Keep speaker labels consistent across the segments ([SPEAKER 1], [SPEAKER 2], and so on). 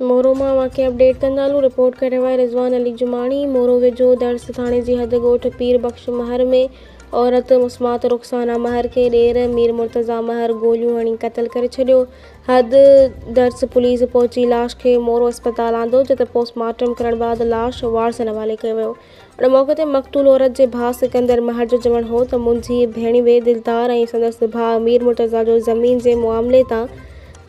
[SPEAKER 1] مورو مان واقعي اپڊيٽ ڪندالون، رپورٽ ڪريو آهي رضوان علي جماڻي، مورو ويجهو درس ٿاڻي جي حد ڳوٺ پير بخش مهر ۾ عورت مسمات رخسانا مهر کي ڏير مير مرتضيٰ مهر گوليون هڻي قتل ڪري ڇڏيو، حد درس پوليس پهچي لاش کي مورو اسپتال آندو جتي پوسٽ مارٽم ڪرڻ بعد لاش وارثن حوالي ڪيو ويو. ان موقعي تي مقتول عورت جي ڀاء سڪندر مهر جو چوڻ هو ته منهنجي ڀيڻوي دلدار ۽ سندس ڀاء مير مرتضيٰ جو زمين جي معاملي تان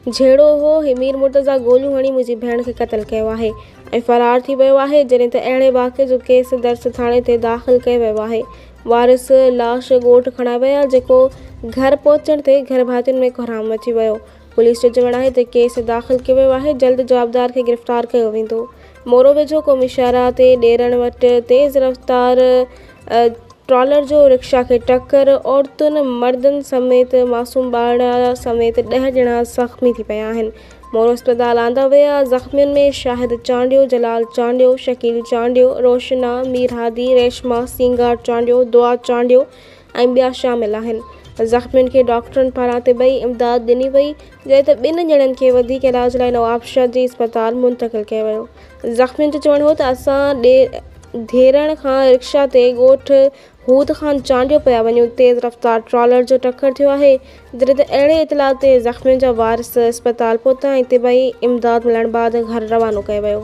[SPEAKER 1] جهيڙو هو هي مير مرتضيٰ گوليون هڻي منهنجي ڀيڻ کي قتل ڪيو آهي ۽ فرار ٿي ويو آهي جڏهن ته اهڙي واقعي جو ڪيس درس ٿاڻي تي داخل ڪيو ويو آهي وارث لاش ڳوٺ کڻائي ويا جيڪو گهر پهچڻ تي گهرڀاتين ۾ ڪوهرام مچي ويو پوليس جو چوڻ آهي ته ڪيس داخل ڪيو ويو آهي، جلد جوابدار کي گرفتار ڪيو ويندو. مورو ويجهو قومي شاهراهه تي ڏيرڻ وٽ تيز رفتار ٽرالر جو رڪشا کي ٽڪر، عورتن مردن سميت معصوم ٻارڙا سميت ڏهه ڄڻا زخمي ٿي پيا آهن، مورو اسپتال آندا ويا، زخمين ۾ شاهد چانڊيو، جلال چانڊيو، شڪيل چانڊيو، روشنا، ميرهادي، ريشما، سينگار چانڊيو، دعا چانڊيو، ۽ ٻيا شامل آهن زخمين کي ڊاڪٽرن پاران طبعي امداد ڏني وئي جڏهن ته ٻن ڄڻن کي وڌيڪ علاج لاء نوابشاهه جي اسپتال منتقل ڪيو ويو زخمين جو چوڻ هو ته اسان ڌيرڻ کان رڪشا تي ڳوٺ هود خان چانڊيو پيا وڃون تيز رفتار ٽرالر جو ٽڪر ٿيو آهي جڏهن ته اهڙي اطلاع تي زخمين جا وارث اسپتال پهتا ۽ طبعي امداد ملڻ بعد گهر روانو ڪيو ويو.